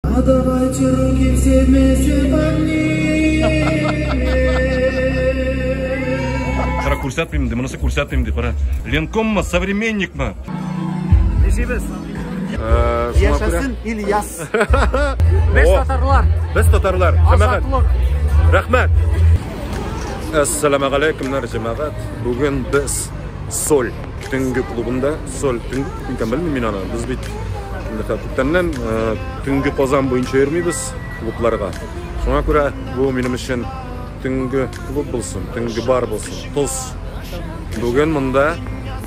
А давайте руки все вместе Кара күрсәтмим инде, монысы күрсәтмим инде, кара. Ленкоммы, современникмы? Ничебез? Э, Яшәсен Ильяс. Без татарлар. Без татарлар. Азатлык. Рәхмәт. Ассаламу алейкумнар, җәмәгать. Бүген без соль Төнге клубында соль төнге клуб икән белмим мин аны. Без бит күптәннән төнге Казан буенча йөрмибез клубларга. Шуңа күрә бу минем өчен төнге клуб булсын, төнге бар булсын. Тоз. Бүген монда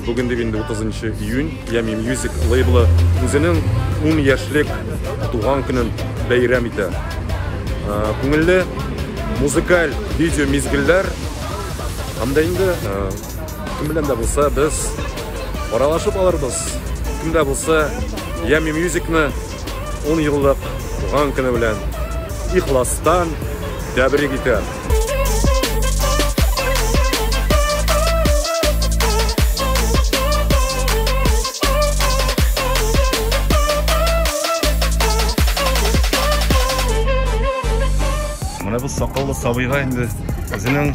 Бүген дип инде 30 июнь Ями Music лейблы үзенең 10 яшьлек туган көнен бәйрәм итә. Күңелле музыкаль видео мизгелләр һәм дә инде Кем белән дә булса без аралашып алырбыз. Кем дә булса Ями Мюзикны 10 еллык туган көне белән ихластан тәбрик итә. Менә бу сакаллы сабыйга инде үзенең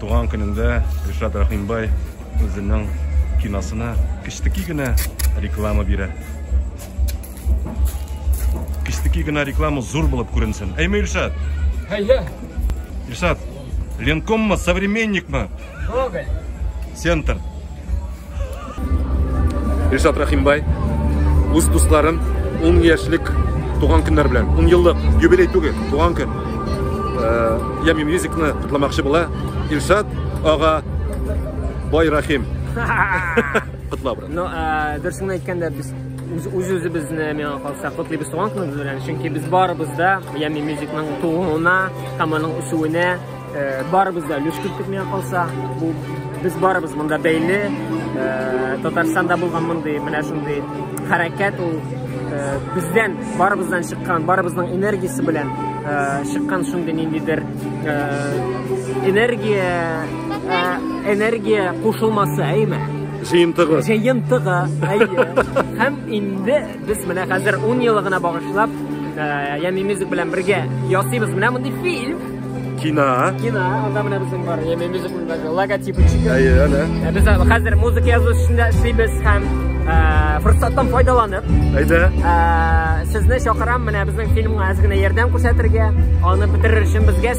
Туган көнендә Ришат Рахимбай үзенең киносына кечтеки генә реклама бирә. Кечтеки генә реклама зур булып күренсен. Әйме, Илшат? Әйе. Илшат, Ленкоммы, современникмы? Гоголь. Центр. Ришат Рахимбай үз дусларын 10 яшьлек туган көннәр белән, 10 еллык юбилей түгел, туган көн. Э, Ями мюзикны котламакчы була. Илшат ага Бай Рахим. Котла брат. Ну, э, дөресен әйткәндә без үз-үзебезне миңа калса котлыйбыз туган көнебез белән, чөнки без барыбыз да Ями мюзикның тууына һәм аның үсүенә Барыбыз да өлеш керттек миңа калса. Бу без барыбыз монда бәйле. Татарстанда булган мондый менә шундый хәрәкәт ул бездән барыбыздан чыккан, барыбызның энергиясе белән чыккан шундый ниндидер энергия энергия кушылмасы, әйме? Җыентыгы. Җыентыгы, әйе. Һәм инде Без менә хәзер 10 елыгына багышлап Ями Мюзик белән бергә ясыйбыз менә мондый фильм. Кино. Кино. Анда менә безнең бар. Ями Мюзик белән логотипы чыгып. Әйе, әнә. Ә без хәзер музыка язу эшендә эшлибез һәм форсаттан файдаланып. Әйдә. Сезне чакырам менә безнең фильмга әз генә ярдәм күрсәтергә. Аны бетерер өчен безгә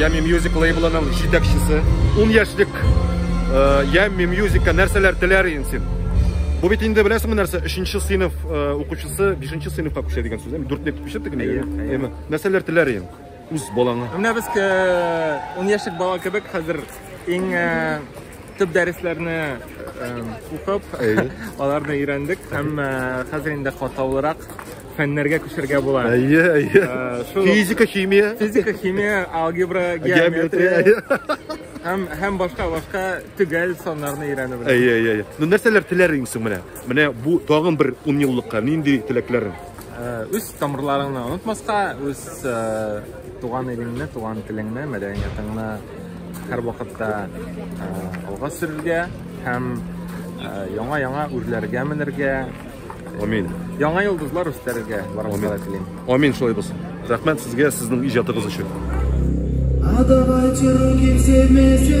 Ями Music лейблының җитәкчесе. Ун яшьлек э, Ями Music-ка нәрсәләр теләр идең син? Бу бит инде беләсеңме нәрсә? 3нче сыйныф э, укучысы 5нче сыйныфка күчә дигән сүз. 4 дип күчә диген. Әйе. Нәрсәләр теләр идең? Үз балаңа. Менә без 10 э, яшьлек бала кебек хәзер иң төп дәресләрне укып, аларны өйрәндек һәм хәзер инде катаулырак фәннәргә күчәргә була. Әйе, әйе. Э, физика, химия. Физика, химия, алгебра, геометрия. Һәм һәм башка башка төгәл саннарны өйрәнү белән. Әйе, әйе, әйе. Ну нәрсәләр теләр инсең менә? Менә бу тагын бер 10 еллыкка нинди теләкләрең? Э, үз тамырларыңны онытмаска, үз э, туган илеңне, туган телеңне, мәдәниятыңны һәр вакытта алга сөрергә һәм яңа-яңа үрләргә менергә, Амин. Яңа йолдызлар өстәргә барыгызга да телим. Амин шулай булсын. Рәхмәт сезгә сезнең иҗатыгыз өчен. А давайте руки все вместе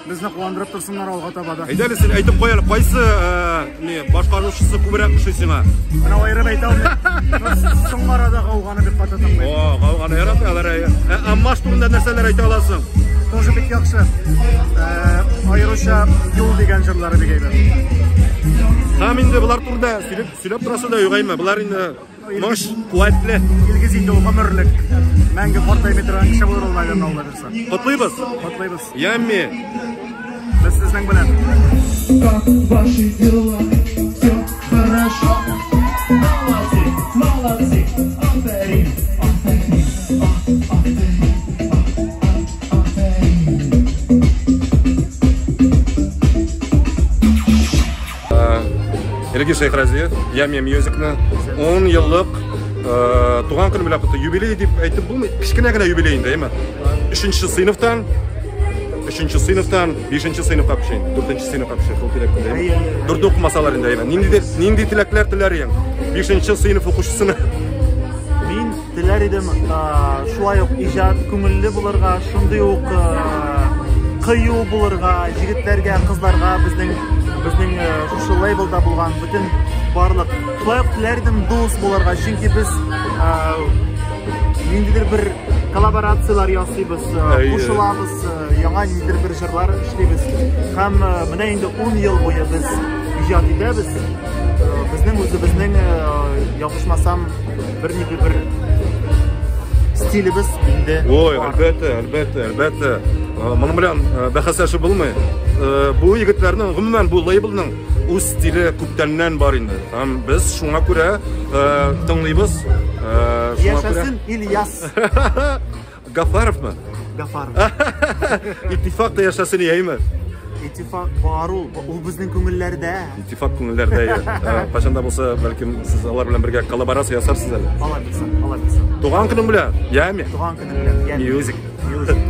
Безне куандырып торсыннар алга таба да. Әйдәле син әйтеп куй әле, кайсы не башкаручысы күбрәк ошый сиңа? Менә аерып әйтә алмыйм. Соң арада гауганы бик каты тыңлыйм. О, гауганы ярата алар. Ә Аммаш турында нәрсәләр әйтә аласың? Тоже бик яхшы. Аеруча юл дигән җырлары бик әйбәт. Һәм инде болар турында сөйләп сөйләп торасы да юк әйме. Болар инде Тормыш куәтле. Илгиз инде ул гомерлек. Мәңге картаймый торган кеше булыр ул, наверное, Алла бирса. Котлыйбыз. Котлыйбыз. Ямми. Без сезнең белән. Как ваши дела? Все хорошо? Молодцы, молодцы. Аферин, аферин, аферин, аферин. Элгиз Шәйхразиев, Ями Мьюзикны 10 еллык э, туган көне белән котлы юбилей дип әйтеп булмый. Кечкенә генә юбилей инде, әйме. 3нче сыйныфтан 3нче сыйныфтан 5нче сыйныфка пешен, 4нче сыйныфка пешен, шул теләк белән. Дүрт укымасалар инде, әйме. Нинди нинди теләкләр теләр идең? 5нче сыйныф укучысына Теләр идем шулай ук иҗат күңелле булырга, шундый ук кыю булырга, егетләргә, кызларга безнең безнең шушы лейблда булган бөтен барлык. Шулай ук теләр идем дус булырга, чөнки без ниндидер бер коллаборацияләр ясыйбыз, кушылабыз, яңа ниндидер бер җырлар эшлибез. Һәм менә инде 10 ел буе без иҗат итәбез. Безнең үзебезнең ябышмасам Бер ни бер стилебез инде. Ой, әлбәттә, әлбәттә, әлбәттә. Моның белән бәхәсләшеп булмый. Бу егетләрнең, гомумән, бу лейблның үз стиле күптәннән бар инде. Һәм без шуңа күрә тыңлыйбыз. Яшәсен Ильяс! Гафаровмы? Гафаров. Итифакта яшәсен яйме? Итифак бар ул. Ул безнең күңелләрдә. Итифак күңелләрдә я. Кайчан да булса, бәлкем сез алар белән бергә коллаборация ясарсыз әле. Алар бисен, алар бисен. Туган көнем белән, яме. Туган көнем белән, яме. Мьюзик. Мьюзик.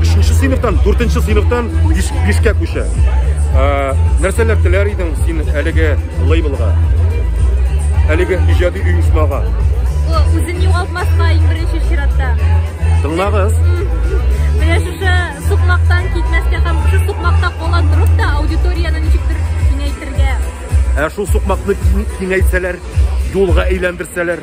Өченче сыйныфтан, дүртенче сыйныфтан бишкә күчә. Нәрсәләр теләр идең син әлеге лейблга? Әлеге иҗади оешмага? Үзен югалтмаска иң беренче чиратта. Тыңлагыз. Менә шушы сукмактан китмәскә һәм шушы сукмакта кала торып та аудиторияне ничектер киңәйтергә. Ә шул сукмакны киңәйтсәләр, юлга әйләндерсәләр,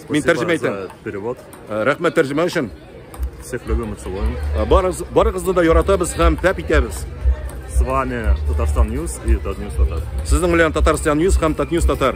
Мин тәрҗемә итәм. Перевод. Э, рәхмәт тәрҗемә өчен. Всех любим и целуем. Э, барыгыз, барыгызны да яратабыз һәм тәп итәбез. С вами Татарстан Ньюс и Татньюс Татар. Сезнең белән Татарстан Ньюс һәм Татньюс Татар.